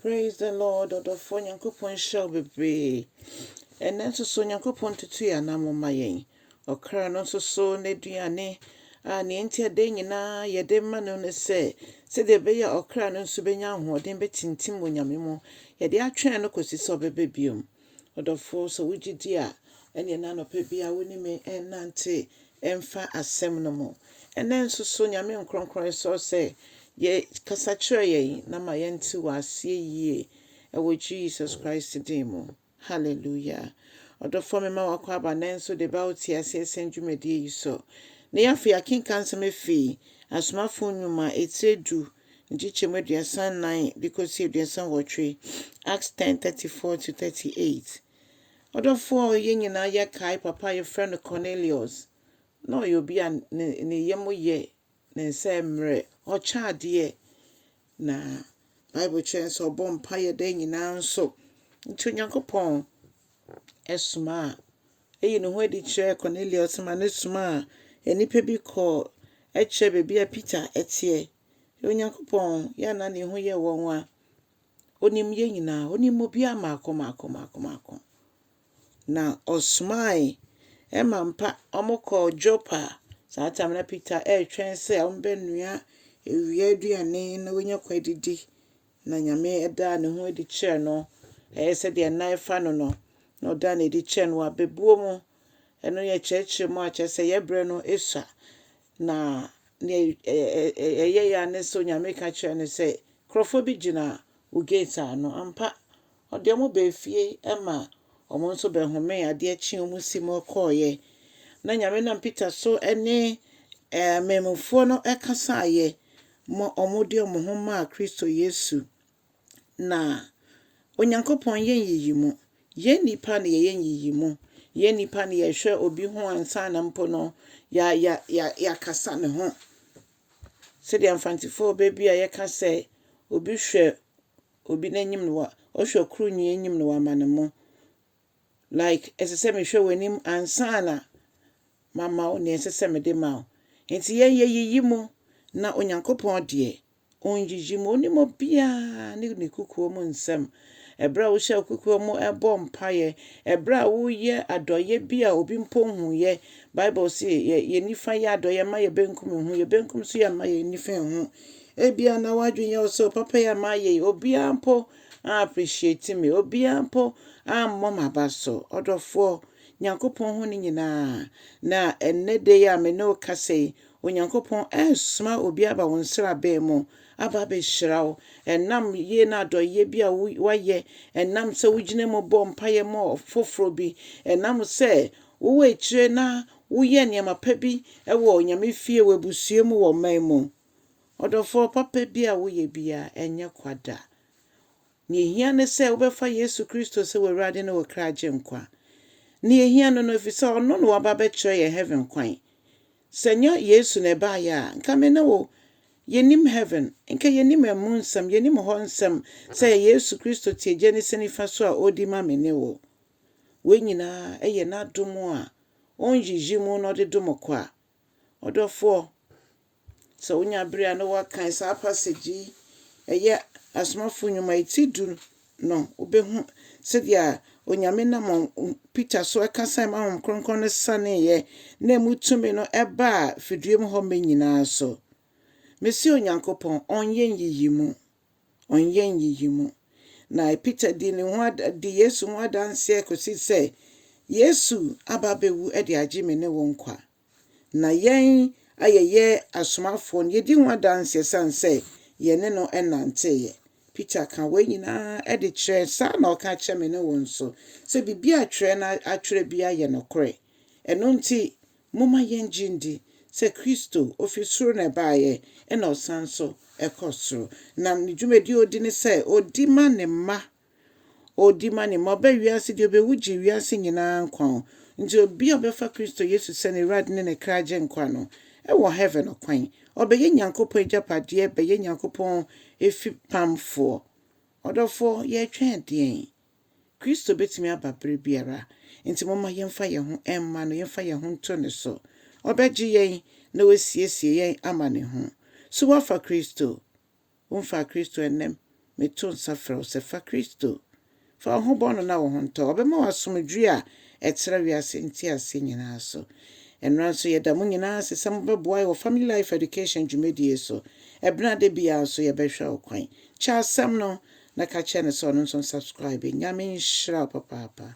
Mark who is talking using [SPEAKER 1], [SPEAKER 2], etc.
[SPEAKER 1] Praise the Lord ɔdɔfoɔ Nyankopɔn nhyira wo bebree ɛnɛ nso so Nyankopɔn tutu yɛn anamo ma yɛn ɔkra no nso so n'aduane a nea enti a dɛn nyinaa yɛde ma no ne sɛ sɛdeɛ ɛbɛyɛ a ɔkra no nso bɛnya ahoɔden bɛtintim wɔ Nyame mu yɛde atwɛn no kɔsi sɛ ɔbɛbɛ biom Ɔdɔfo, sɛ wugye di a, ɛnneɛ na anɔpa biara wo ne me nnante mfa Asɛm no mu. Ɛnnɛ nso so, Nyame nkorɔnkorɔn, yɛsrɛ sɛ yɛ, kasa kyerɛ yɛn na ma yɛnte wo aseɛ yie, ɛwɔ Jesus Christ din mu. Hallelujah. Ɔdɔfoɔ, mema w'akwaaba nnɛ nso de ba wo teaseɛ sɛm dwumadie yi so. Ne afei yɛakenkan nsɛm afiri Asomafoɔ Nnwuma etire du nkyekyɛmu aduasa nnan de kɔsi aduasa nwɔtwe, Acts ten, thirty four to thirty eight. Ɔdɔfoɔ a yɛn nyinaa yɛkae papa a yɛfrɛ no Cornelius, na ɔyɛ obi a ne ne yam yɛ, ne nsa yɛ mmerɛ, ɔkyɛ adeɛ, na Bible kyerɛ yɛn sɛ ɔbɔ mpaeɛ da nyinaa nso. Nti Onyankopɔn ɛsomaa Eyi ne ho adi kyerɛɛ Kornelius ma no somaa nnipa bi kɔɔ kyerɛɛ baabi a Peter teɛ. Onyankopɔn, yɛ a na ne ho yɛ wo nwonwa, onim yɛn nyinaa, onim obiara mmaako mmaako mmaako mmaako. Na ɔsomae ma mpa wɔkɔɔ Joppa. Saa tam na Peter retwɛn sɛ wɔbɛnoa awia aduane na wanya kwan adidi. Na Nyame daa ne ho adi kyerɛɛ no, ɛyɛ sɛ deɛ nan fa no no, na ɔdaa no adi kyerɛɛ no wɔ abɛbuo mu. Ɛno yɛ kyerɛkyerɛ mu a kyerɛ sɛ yɛbrɛ no sua. Na deɛ ɛyɛ ya ne sɛ Onyame ka kyerɛ no sɛ nkurɔfoɔ bi gyina wo gate ano. Ampa, ɔde wɔn baa fie ma wɔn nso bɛhomee adeɛ kye wɔn si mu kɔeɛ. Na Nyame nam Peter so ne mmamufoɔ no kasaeɛ ma wɔde wɔn ho maa Kristo Yesu, na Onyankopɔn yɛ nyiyimu. Yɛn nnipa na yɛyɛ nyiyimu. Yɛn nnipa na yɛhwɛ obi ho ansa na mpo no yɛ yɛ yɛ yɛakasa ne ho. Sɛdeɛ Mfantefoɔ bɛ bi a yɛka sɛ, obi hwɛ obi n'anim na wa ɔhwɛ kuro nwi anim na wama ne mo. like ɛsɛ sɛ mehwɛ w'anim ansa na mama wo nea ɛsɛ sɛ mede ma wo. Enti yɛn yɛyiyi mu, na Onyankopɔn deɛ, ɔnyiyi mu. Ɔnim obiara ne ne kokoa mu nsɛm. Ɛberɛ a wohyɛ wo kokoa mu bɔ mpaeɛ, ɛberɛ a woyɛ adɔeɛ bi a obi mpo nhuiɛ, Bible se yɛ, yɛn nifa yɛ adɔeɛ mma yɛn benkum nhu, yɛn benkum nso yɛ mma yɛn nifa nhu. Ebia na w'adwene yɛ wo sɛ, o papa yi a mayɛ yi, obiara mpo aappreciate me, obiara mpo aammɔ m'aba so. Ɔdɔfoɔ, Nyankopɔn hu ne nyinaa, na ɛnnɛ da yi a me ne wo kasa yi, Onyankopɔn ɛresoma obi aba wo nsraban mu aba abɛhyira wo, ɛnam yie ne adɔeɛ bi a woayɛ, ɛnam sɛ wogyina mu bɔ mpaeɛ ma ɔfoforɔ bi, ɛnam sɛ wowɔ akyire na woyɛ nneɛma pa bi wɔ Nyame fie, wɔ abusua mu, wɔ ɔman mu. Ɔdɔfoɔ papa bi a woyɛ biara, ɛnyɛ kwa da. Nea ehia ne sɛ wobɛfa Yesu Kristo sɛ w'Awurade ne wo kra Agyenkwa. Nea ehia no no, efisɛ Ɔno na waba abɛkyerɛ yɛn heaven kwan. Sɛ ɛnyɛ Yesu na ɛbaeɛ a, nka me ne wo, yɛnnim heaven. Nka yɛnnim ɛmu nsɛm, yɛnnim hɔ nsɛm sɛ ɛyɛ Yesu Kristo te Agya ne se nifa so a ɔredi ma me ne wo. Wei nyinaa yɛ N'adom a ɔnnyiyi mu na ɔde dom kwa. Ɔdɔfoɔ, sɛ wonya berɛ a na woakan saa passage yi, ɛyɛ Asomafoɔ Nnwuma yi ti du no, wobɛhu sɛdeɛ Onyame nam Peter so ɛkasae ma Honhom Kronkron no saneeɛ na ɛmu tumi no ɛbaa fidua mu hɔ mɛ nyinaa so. Mese Onyankopɔn ɔnyɛ nyiyimu. ɔnyɛ nyiyimu. Na Peter dii ne ho ad, dii Yesu ho adanseɛ kɔsi sɛ Yesu aba abɛwu de agye me ne wo nkwa. Na yɛn a yɛyɛ asomafoɔ no, yɛdi ho adanseɛ sane sɛ yɛne no nanteeɛ. Peter ka wei nyinaa de kyerɛ, saa na ɔka kyerɛ me ne wo nso, sɛ biribi a twerɛ no atwerɛ biara yɛ nokorɛ. Ɛno nti, Momma yɛngye ndi sɛ Kristo, ofi soro na ɛbaeɛ, ɛna ɔsan nso kɔ soro. Na ne dwumadie a ɔdi ne sɛ, ɔdi ma ne mma, ɔdi ma ne mma. Ɔbaa wiase, deɛ ɔbɛwu gyee wiase nyina ara nkwa o. Nti obi a ɔbɛfa Kristo Yesu sɛ n'Awurade ne ne kra agyenkwa no, wɔ Heaven ɔkwan. Ɔbɛyɛ Nyankopɔn agyapadeɛ, bɛyɛ Nyankopɔn afipamfoɔ. Ɔdɔfoɔ, yɛretwɛn deɛn? Kristo bɛtumi aba berɛ biara, enti momma yɛmfa yɛn ho mma no, yɛmfa yɛn ho nto ne so. Ɔbɛgye yɛn na wasiesie yɛn ama ne ho. So woafa Kristo? Womfaa Kristo ɛnnɛ? Meto nsa frɛ wo sɛ fa Kristo. Fa wo ho bɔ no na wo ho ntɔ. Ɔbɛma wo asomdwoeɛ a ɛtra wiase nteaseɛ nyinaa so. Ɛnnora nso yɛda mo nyinaa ase sɛ mobɛboa yɛn wɔ Family Life Education dwumadie so. Ɛbenada biara nso yɛbɛhwɛ wo kwan. Kyɛ asɛm no. na ka kyerɛ no sɛ ɔno nso nsubscribe. Nyame nhyira wo papaapa.